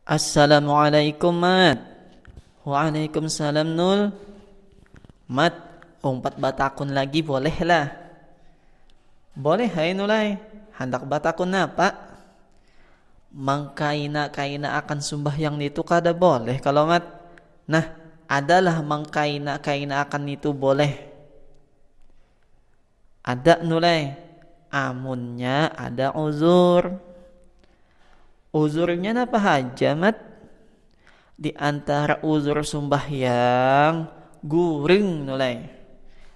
Assalamualaikum mat Waalaikumsalam nul Mat umpat batakun lagi boleh lah Boleh hai nulai Handak batakun apa Mangkaina kaina akan sumbahyang nitu kada boleh kalo mat Nah adalah mangkaina kaina akan nitu boleh Ada nulai amunnya ada uzur. Uzurnya napa haja mat? Di antara uzur sumbahyang guring nulai.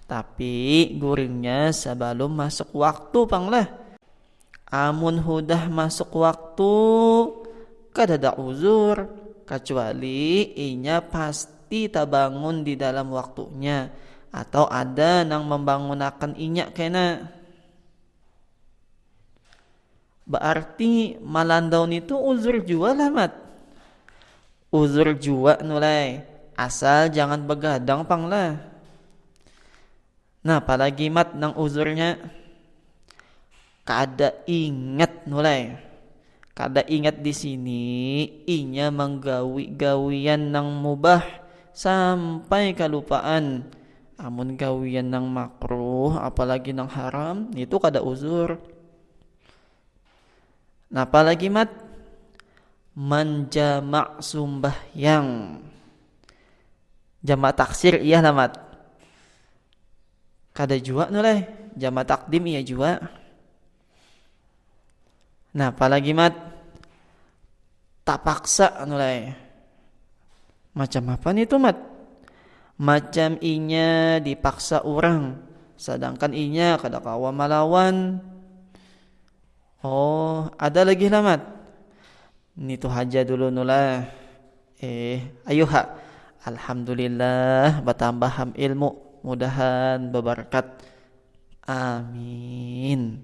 Tapi guringnya sebelum masuk waktu panglah. Amun hudah masuk waktu kadada uzur kacuali inya pasti tabangun di dalam waktunya atau ada nang mambangunakan inya kena. Baarti malandau nitu uzur jua lah Mat. Uzur jua Nulai, asal jangan bagadang pang lah. Nah palagi mat nang uzurnya kada ingat mulai kada ingat di sini inya manggawi gawian nang mubah sampai kalupaan amun gawian nang makruh apalagi nang haram itu kada uzur napa lagi mat manjamak sumbahyang Jamak taksir iyah lah mat kada jua tu leh jamak takdim iya jua nah apalagi mat tapaksa tu leh macam apa nih tu mat macam inya dipaksa urang sedangkan inya kada kawa malawan oh ada lagi lah mat nitu haja dulu tu lah. Eh, ayuha. Alhamdulillah batambah ham ilmu. Mudahan babarkat. Amin.